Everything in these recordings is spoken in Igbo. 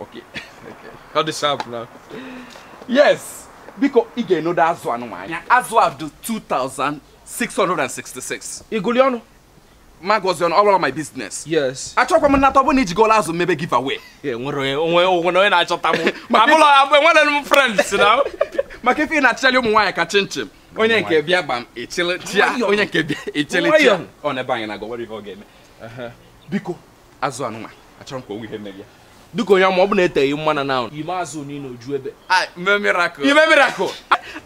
Okay. Okay. Cut this up now. Yes. Biko ị ga-enedo azụ anụnwa anya. Azụ a dị 2666. Iguli ọnụ. Magozi ọnụ ọrụ my business. Yes. Achọkwa m ịnata ọbụna iji gola azụ mebe giveaway. Yeah, nwere onwe onwe onye na-achọta m. Ma bụrụ abụ enwere m friends na. Maka ife ị na-achịchali ụmụ nwaanyị ka chinchin. Onye nke bịa gbam echele chia. Onye nke bịa echele chia. Ọ na-ebe anyị na-agọ nwere ihe ọ ga-eme. Biko azụ anụnwa achọrọ m ka o nwee ihe mere ya dịka onye ma ọ bụ na eteghị mmanụ na ime azụ niile o ju ebe ime miracle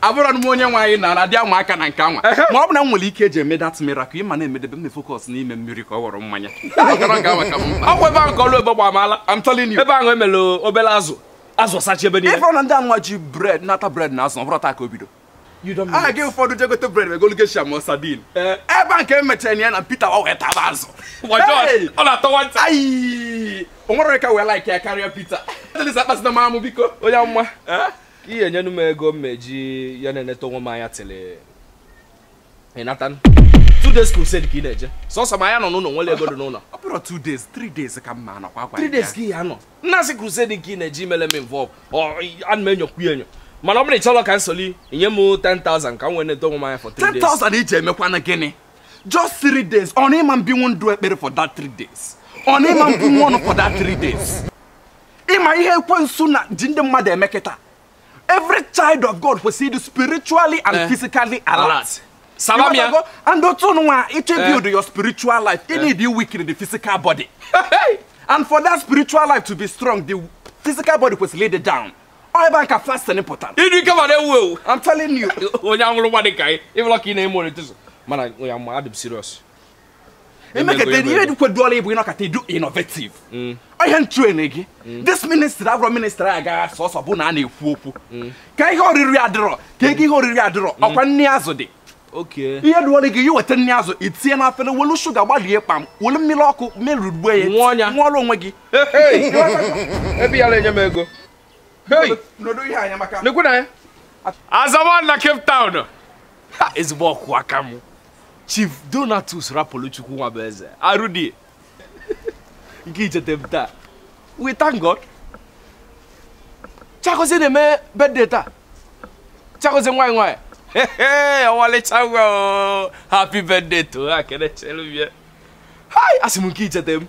abụrọ m onye nwe anyị na ndị anwa aka na nke anwa ma ọ bụ na m nwere ike eji eme that miracle ịma na-emedebe m focus n'ime mmiri ka ọ ghọrọ mmanya ọkwa ebe ahụ ka ọlụ ebube mala ebe ahụ emere obere azụ azụ sachi ebe niile ị fụrọ na ndị anwa ji bread nata bread na azụ ọ bụrụ taa ka o bido aha gị ụfọdụ jegote bread m egolu geisha ma sardine eh, ebe a nke emechara ya na Peter wa wee taba azụ ọ na-atọwa nta o nwere ka wee like ya karịa Peter akpasịna m amụ biko onye amụma eh? ị ya-enyenu m ego m eji ya na-eneta onwe m anya three ị na-attend two days crusade ka ị na-eje sọsọ m ya-anọ n'ụlọ nwere ego dị n'ụlọ ọ bụrụ two days three days ka ị ma anọkwa three days ka ị ya-anọ nnasị crusade nke ị na-eje imele m involve ana m enyokwu ya enyo mana ọ bụrụ ịchọrọ ka m soli nye m 10,000 ka m wee nedo onwe m anya for 3 days 10,000 iji emekwanụ gịnị just 3 days ọ na ịma ebinwu ndụ ekpere for that 3 days ọ na ịma ebunwu ọnụ for that 3 days ịma ihe ekwensu na-eji ndị mmadụ eme kịta every child of god kwesịrị ịdị spiritually and Eh. physically alert Alert. Saba m ya. Ịghọtago? and otu nwa ịchọ Eh. build your spiritual life you need to weaken the physical body and for that spiritual life to be strong the physical body kwesịrị ịdị down ọ ebe a ka fasting pụtara ịdị ike ma na-ewu ewu i'm telling you onye anwụrụ nwa dị ka anyị ịbụla ka ị na-eme orientizm mana ya ma adị m serious emekata ihe dịkweduola ịbụ ịnọkata ị dị innovative mm. ihe nchuene gị mm. this ministry abụrọ ministry a ga-asị sọsọ bụ na a na-ekwu okwu mm. ka ihe oriri adịrọ ka ego ihe oriri adịrọ ọkwa nri azụ dị ihe duola gị ya weta nri azụ itinye na afere welu sugar gbalie kpam welu mmiri ọkụ merugbuo ya nwụọla onwe gị ebe ya na-enye m ego Azaman na Cape Town ezigbo ọkaka m Chief Donatus Rapuluchukwu Nwabueze arụdie nke icheta m taa we thank God Chiagozie na-eme birthday taa Chiagozie nwanyị nwanyị ọmalịcha nwa happy birthday to her kene chelubie hai asị m nke icheta m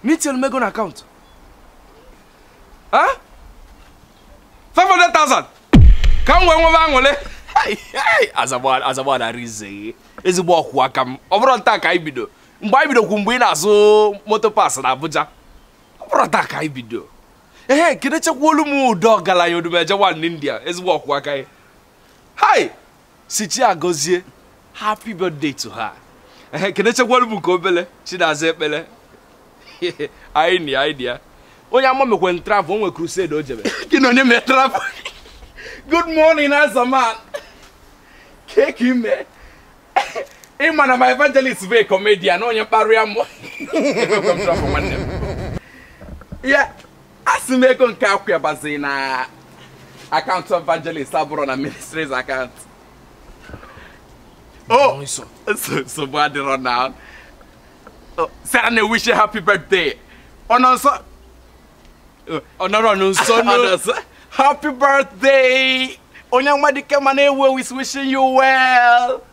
nyelụ m ego n'account. Huh? 500,000. Ka m wee nwebe aṅụlị. Azagba narị ise ezigbo ọkwụ aka m ọ bụrọ taa ka anyị bido mgbe anyị bido kemgbe ị na-azụ motor parts na Abuja ọ bụrọ taa ka anyị bido ee kenechekwalụ m Udo ọgaranya Odumeje nwanne India ezigbo ọkwụ aka ya hai si chi agọzie happy birthday to her ehe kenechekwara m nke obele chi na-aza ekpele anyị na ya anyị dị ya onye amụma mekwe travel o nwe crusade o jebe gị na onye mee travel good morning Azaman kee ka ị me ị ma na my evangelist bụ a comedian onye mkparị amụ Emekwe m travel nwanne m. ya asị m ego nke a kwa baziri na account evangelist abụrọ na ministry's account o nsogbu adịrọ na sara na wish happy birthday ọ nọ nsọ ọ nọrọ nso nso happy birthday onye amụma dị ike ma na-ewu ewu is wishing you well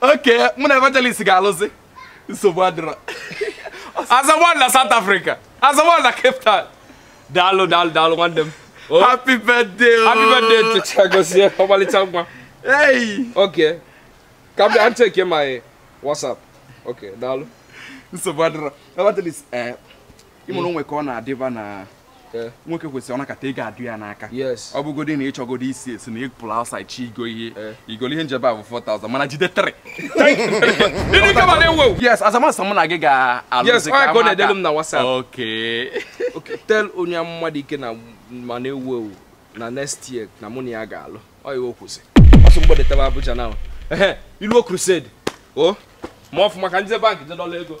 okay mụ na evangelist ga-alụzi nsogbu adịrọ Azaman na South Africa Azaman na Cape Town daalụ daalụ daalụ nwanne m oh. happy birthday oh. happy birthday chi agọzie ọmalịcha nwa okay ka m bịa checkie my WhatsApp okay daalụ nsogbu adịrọ evangelist eh, ị ma na o nwe ka ọ na-adịba na eh. nwoke kwesịrị ọ nọkata ego adụ ya n'aka ọ bụgodi na ị chọgodi isi esi na ị pụrụ outside chi igo ihe eh. i golu ihe njebe a bụ 4000 mana jide 3 yes Azaman sị mụ na gị ga-alụzi ka amaka m na WhatsApp okay tell onye amụma dị ike na ma na-ewu ewu na next year na mụ na ya ga-alụ ọ iwe kwụsị ọsụ mgbede tebe Abuja na ilu crusade o oh, ma ọ bụ maka ndị bank jidola ego